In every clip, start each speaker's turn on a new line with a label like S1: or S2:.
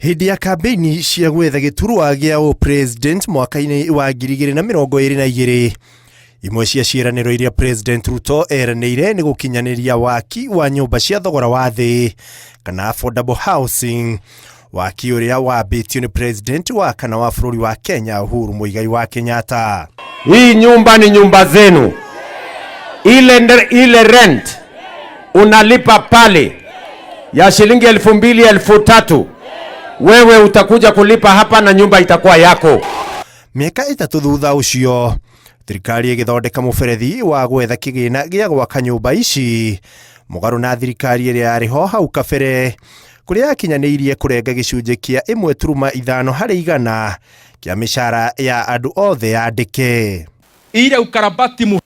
S1: Hĩndĩ ya kambĩini cia gwetha gĩturwa gĩa ũ president mwaka-inĩ wa 2022 imwe cia ciĩranĩro iria president Ruto eranĩire nĩ gũkinyanĩria waki wa nyũmba cia thogora wa thĩ kana affordable housing waki ũrĩa wambĩtio nĩ president wa kana wa bũrũri wa Kenya Uhuru Muigai wa Kenyatta. Hii nyumba
S2: ni nyumba zenu, ile, ile rent unalipa pale ya shilingi elfu mbili elfu tatu wewe utakuja kulipa hapa na nyumba itakuwa yako. Mĩaka
S1: ĩtatũ thutha ũcio thirikari ĩgĩthondeka mũberethi wa gwetha kĩgĩna gĩa gwaka nyũmba ici mũgarũ na thirikari ĩrĩa yarĩ ho hau kabere kũrĩa yakinyanĩirie kũrenga gĩcunjĩ kĩa ĩmwe turuma ithano harĩ igana kĩa mĩcara ya andũ othe yandĩke ile
S3: ukarabati muhimu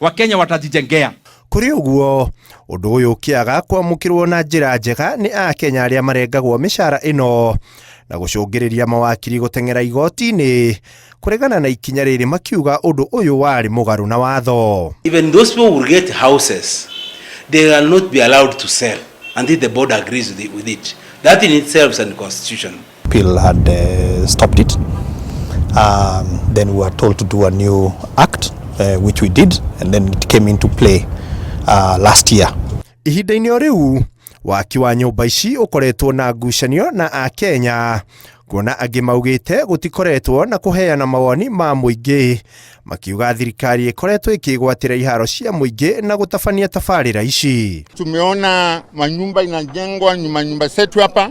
S3: Wakenya watajijengea. Kũrĩ ũguo,
S1: ũndũ ũyũ ũkĩaga kwamũkĩrwo na njĩra njega nĩ Akenya arĩa marengagwo mĩcara ĩno na gũcũngĩrĩria mawakiri gũteng'era igoti-inĩ kũregana na ikinya rĩrĩ makiuga ũndũ ũyũ warĩ mũgarũ na watho. Even those people will
S4: get houses, they will not be allowed to sell until the board agrees with it. With it. That in itself is unconstitutional. People had uh,
S5: stopped it. Um, then we were told to do a new act, uh, which we did, and then it came into play uh, last year. ihinda-inĩ o rĩu
S1: waki wa nyũmba ici ũkoretwo na ngucanio na a kenya kuona angĩ maugĩte gũtikoretwo na kũheana mawoni ma mũingĩ makiuga thirikari ĩkoretwo ĩkĩgwatĩra iharo cia mũingĩ na gũtabania tabarĩra ici Tumeona
S6: manyumba inajengwa, ni manyumba zetu hapa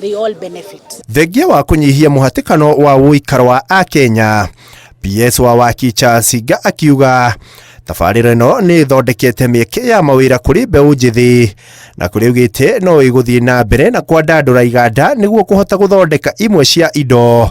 S7: they all benefit. Thengia wa kũnyihia mũhatĩkano wa ũikaro wa Akenya, PS wa waki Charles Nga akiuga tabarĩra ĩno nĩ ĩthondekete mĩeke ya mawĩra kũrĩ mbeũ njĩthĩ na kũrĩ augĩte no ĩgũthiĩ na mbere na kwandandũra iganda nĩguo kũhota gũthondeka imwe cia indo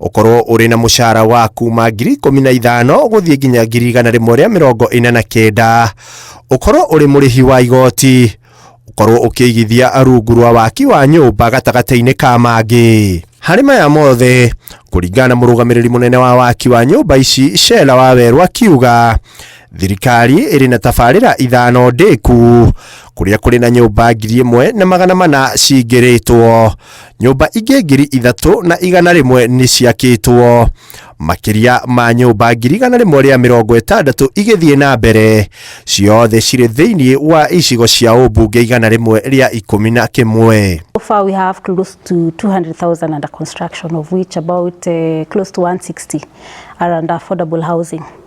S1: ũkorwo ũrĩ na mũcara wa kuma ngiri ikũmi na ithano gũthiĩ nginya ngiri igana rĩmwe rĩa mĩrongo ĩna na kenda ũkorwo ũrĩ mũrĩhi wa igoti ũkorwo ũkĩigithia rungu rwa waki wa nyũmba gatagatĩ-inĩ ka mangĩ harĩ maya mothe kũringana na mũrũgamĩrĩri mũnene wa waki wa nyũmba ici Shela Wawerũ akiuga thirikari ĩrĩ na tabarĩra ithano ndĩku kũrĩa kũrĩ na nyũmba ngiri ĩmwe na magana mana cingĩrĩtwo nyũmba ingĩ ngiri ithatũ na igana rĩmwe nĩ ciakĩtwo makĩria ma nyũmba ngiri igana rĩmwe rĩa mĩrongo ĩtandatũ igĩthiĩ na mbere ciothe cirĩ thĩinĩ wa icigo cia ũmbunge igana rĩmwe rĩa ikũmi na kĩmwe So far, we have close
S8: to 200,000 under construction, of which about uh, close to 160 are under affordable housing.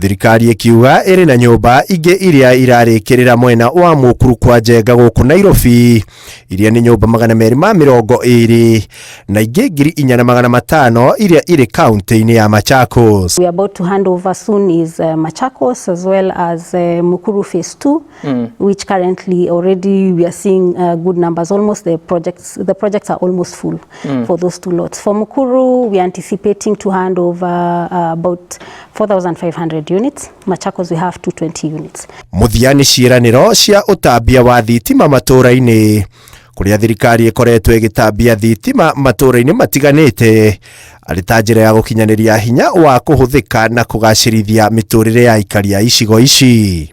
S1: Thirikari ĩkiuga ĩrĩ na nyũmba ingĩ iria irarĩkĩrĩra mwena wa mũkuru kwa Njenga gũkũ Nairobi, iria nĩ nyũmba magana merĩ ma mĩrongo ĩrĩ na ingĩ ngiri inya na magana matano iria irĩ kaunti-inĩ ya Machakos. We are about to hand
S8: over soon is uh, Machakos as well as uh, Mukuru Phase 2. mm. which currently already we are seeing uh, good numbers. Almost the projects, the projects are almost full mm. for those two lots. For Mukuru, we are anticipating to hand over uh, about 4,500 units. Machakos, we have 220 units. Muthia ni ciĩranĩro
S1: cia ũtambia wa thitima matũũra-inĩ kũrĩa thirikari ĩkoretwo ĩgĩtambia thitima matũũra-inĩ matiganĩte arĩ ta njĩra ya gũkinyanĩria hinya wa kũhũthĩka na kũgacĩrithia mĩtũrĩre ya aikari a icigo ici